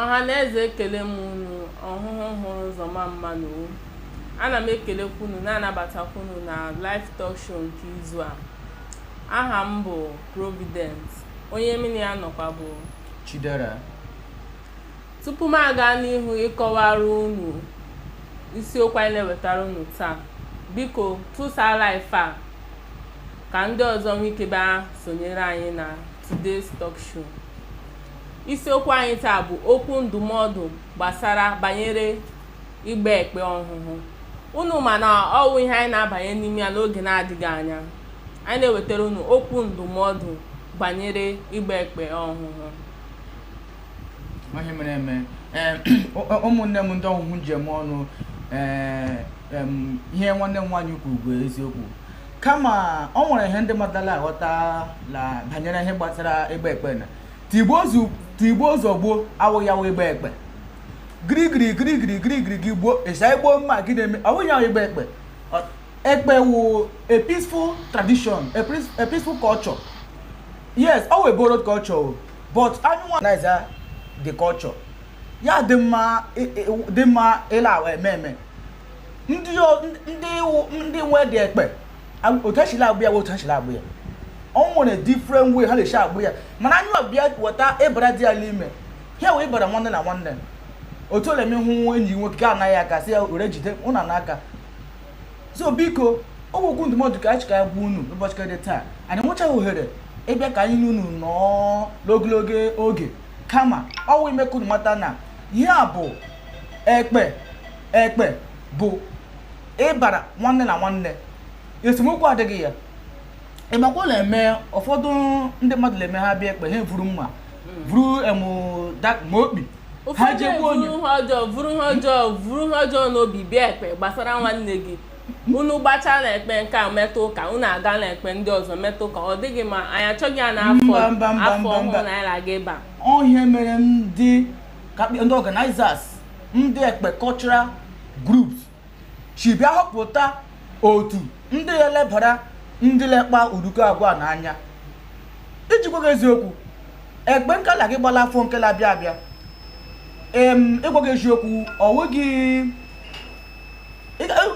ọha na eze ekele m unu ọhụhụ hụrụ ụzọ ma mma nụ o ana m ekelekwa unu na-anabatakwa unu na live talk show nke izu a aha m bụ providence onye mụ na ya nọkwa bụ chidera Tupu m aga n'ihu ịkọwara unu isiokwu anyị na-ewetara unu taa, biko tụsaa live a ka ndị ọzọ nwee ike bịa sonyere anyị na Today's Talk Show. Isiokwu anyị taa bụ okwu ndụmọdụ gbasara banyere ịgba ekpe ọhụhụ. Unu ma na ọ wụ ihe anyị na-abanye n'ime ya n'oge na-adịghị anya. Anyị na-ewetara unu okwu ndụmọdụ banyere ịgba ekpe ọhụhụ. ihe mere eme eh, ụmụnne m ndị ọhụhụ ndeewo nụ eh, ihe nwanne m nwaanyị kwuru bụ eziokwu kama ọ nwere ihe ndị mmadụ la-aghọta na banyere ihe gbasara ịgba ekpe na tigbuo zọgbuo awụghị ya wụ ịgba ekpe girigiri girigiri girigiri gị gbuo ịsa igbu mma gị na-eme ọ bụghị ya wụ ịgba ekpe ekpe wụ a peaceful tradition a peaceful culture yes ọ wụ a borrowed culture but anyị nwa na-eza the culture ya dị mma e, e, dị mma ịla awa eme eme ndị o- ndị iwu- ndị nwe dị ekpe a- otu e si la-agba ya bụ otu e si la-agba ya o nwere different way ha na-esi agba ya mana anyị ọbịa weta ịbara dị ya n'ime ha wee ịbara nwanne na nwanne otu ole m hụ enyi nwoke ka anaghị aka si ya were jide ụna n'aka so biko okwu ndụmọdụ ka anyị sị ka anyị gwa unu n'ụbọchị nke dị taa anyị nwechaghị ohere ịbịa ka anyị na unu nọọ n'ogologo oge kama ọ wụ ime ka unu mata na ihe a bụ ekpe ekpe bụ ịbara nwanne na nwanne esemokwu adịghị ya ị makwa la eme ụfọdụ ndị mmadụ na-eme ha bịa ekpe ha vuru mma vuru emu da- ma okpi ha ụfọdụ ji egbu onye eburu ihe ọjọọ vuru ihe ọjọọ vuru ihe ọjọọ n'obi bịa ekpe gbasara nwanne gị unu gbachaa na ekpe nke a meta ụka unu aga na ekpe ndị ọzọ meta ụka ọ dịghị mma anyị achọghị ya na afọ ọhụrụ na anyị na-aga ịba ihe mere ndị ka- ndị organizers ndị ekpe cultural groups si bịa họpụta otu ndị elebara ndị la-akpa uduko agwa n'anya iji gwa gị eziokwu ekpe nke la-aga ịgba la afọ nke la-abịa abịa em ịgwa gị eziokwu ọ nweghị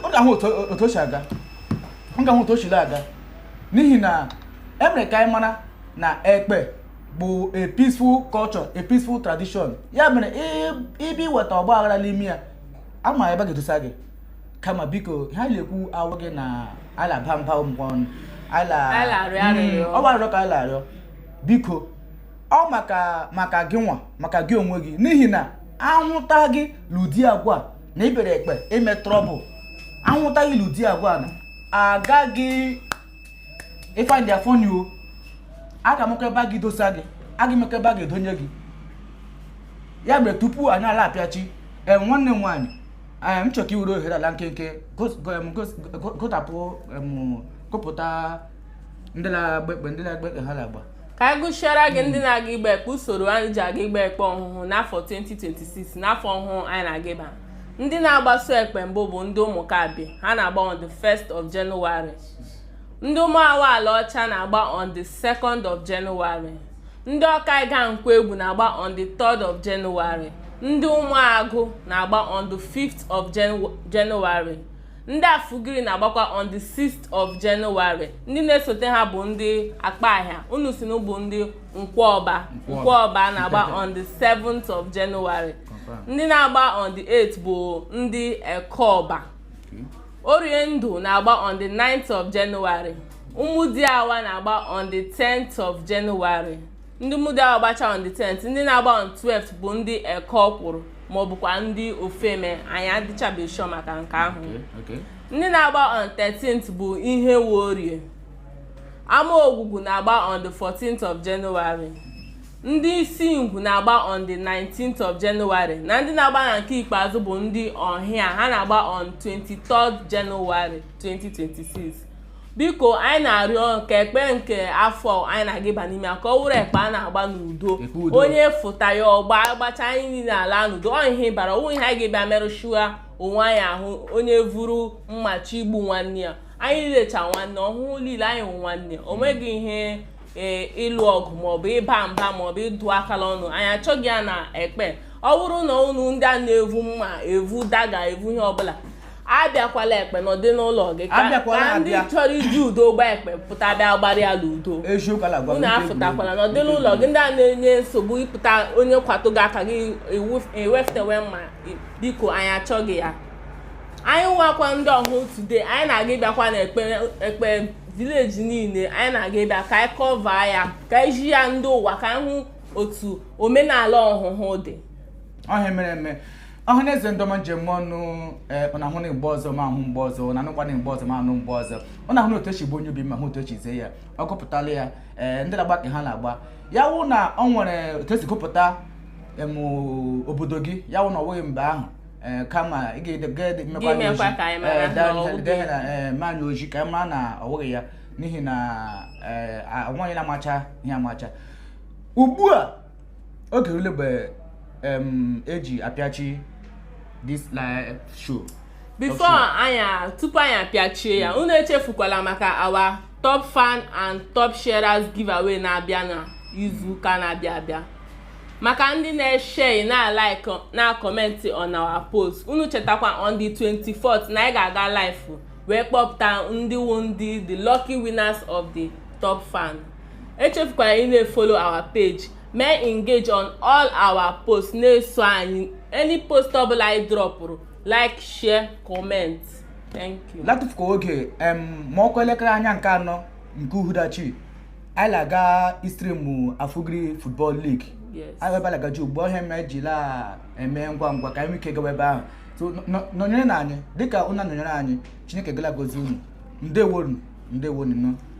ọ ga-ahụ otu o si aga ọ ga-ahụ otu o siri aga n'ihi na e mere ka anyị mara na ekpe bụ a peaceful culture a peaceful tradition ya mere ịbịa iweta ọgba aghara n'ime ya ama ebe a ga-edosa gị kama biko ihe a na-ekwu awụghị na a la-aba mba ụmụ ọnụ ala Ala arịọ arịrịọ. Mm, ọ bụ arịrịọ ka a la-arịọ biko ọ maka maka gị nwa maka gị onwe gị n'ihi na ahụta gị n'ụdị agwa a na ị bịara ekpe ime trouble ahụta gị n'ụdị agwa a na agaghị ịfa ndị afọ n'iwo a ga-ama ebe a ga-edosa gị a ga-ama ebe a ga-edonye gị ya mere tupu anyị la-apịachi ee nwanne m nwaanyị ee m chọrọ ka i were ohere ala nkenke gos- go- em, gos- go- gotapụ em, gụpụta ndị na-agba ekpe ndị na-agba ekpe ha na-agba ka anyị gụsiara gị ndị na-aga ịgba ekpe usoro anyị ji aga ịgba ekpe ọhụhụ n'afọ 2026 n'afọ ọhụụ anyị na-aga ịba ndị na-agbaso ekpe mbụ bụ ndị ụmụkabịa ha na-agba on the 1st of January ndị ụmụawa alaọcha na-agba on the 2nd of January ndị ọkaịụga nkwọegwu na-agba on the 3rd of January ndị ụmụagụ na-agba on the 5th of January ndị afugiri na-agbakwa on the 6th of January ndị na-esote ha bụ ndị akpahịa unu si na ọ bụ ndị nkwọọba nkwọọba na-agba on the 7th of January ndị na-agba on the 8th bụ ndị ekeọba oriendu na-agba on the 9th of January ụmụdiawa na-agba on the 10th of January ndị ụmụdiawa gbacha on the 10th ndị na-agba on 12th bụ ndị eke ọkwụrụ ma ọ bụkwa ndị ofeme anyị adịchabeghị sure maka nke ahụ Okay. ndị na-agba on 13th bụ ihe worie amaogwugwu na-agba on the 14th of January ndị isingwu na-agba on the 19th of January na ndị na-agba na nke ikpeazụ bụ ndị ọnhịa ha na-agba on 23rd January 2026 biko anyị na-arịọ ka ekpe nke afọ anyị na-aga ịba n'ime ya ka ọ wụrụ ekpe a na-agba n'udo Ekpe udo. onye fụta ya ọ gbaa a gbachaa anyị niile alaa n'udo ọ ihe bara onwe ihe anyị ga-ebịa merụchaa onwe anyị ahụ onye vuru mma chọọ igbu nwanne ya anyị niile cha nwanne ọhụhụ niile anyị wụ nwanne o nweghị ihe ee, ịlụ ọgụ maọbụ ịba mba maọbụ ịdụ aka la ọnụ anyị achọghị ya na ekpe ọ bụrụ na unu ndị a na-evu mma evu dagger evu ihe ọbụla abịakwala ekpe nọdị n'ụlọ gị ka Abịakwala ka ndị abịa. chọrọ iji udo gba ekpe pụta bịa gbara ya n'udo eziokwu ala gwa m unu ike afụtakwala egwuregwu. nọdị n'ụlọ gị ndị a na-enye nsogbu ị pụta onye kwatụ gị aka gị ewu- eweftewe mma i- biko anyị achọghị ya anyị nwakwa ndị ọhụhụ today anyị na-aga ịbịakwa na ekpe ekpe village niile anyị na-aga ịbịa ka anyị cover ya ka anyị zi ya ndị ụwa ka anyị hụ otu omenala ọhụhụ dị ọhịa mere eme ọha na eze ndọma njem ọnụ ee ọ na-ahụ na mgbe ọzọ ma ahụ mgbe ọzọ ọ na-anụkwa na mgbe ọzọ ma anụ mgbe ọzọ ọ na-ahụ na otu esi gbo onye obi ma hụ otu esi zee ya ọ gụpụtala ya ee ndị na-agba ka ha na-agba ya wụ na ọ nwere otu esi gụpụta em, obodo gị ya wụ na ọ bụghị mgbe ahụ ee, kama ị ga-ede- ga-ede- mekwa mmanya mekwa ọjị. ka anyị mara Ee, na daa- ọ bụ dee gị. na ee, mmanya ọjị ka anyị mara na ọ bụghị ya n'ihi na ee, a- nwaanyị na-amacha ihe amacha ugbu a oge rule mgbe eji e apịachi this live show before anyị tupu anyị apịachie ya unu echefukwala maka our top fan and top sharers giveaway na-abịa na izu ụka na-abịa abịa maka ndị na-eshare na-alike na-acomment on our post unu chetakwa on the 24th na anyị ga-aga live wee kpọpụta ndị wu ndị the lucky winners of the top fan echefukwala ị na-efollow our page mee engage on all our posts na-eso anyị any post ọbụla anyị dropụrụ like share comment thank you latụfukwa oge em ma ọ kụọ elekere anya nke anọ nke uhuruchi anyị na-aga istrimụ Afugiri football league yes anyị ebe a la-agaji ugbu a ihe m ji la-eme ngwa ngwa ka anyị nwee ike gawa ebe ahụ so nọ- nọ- nọnyerenụ anyị dịka unu nọnyere anyị chineke ga la-agọzi unu ndewonu ndewonu nọ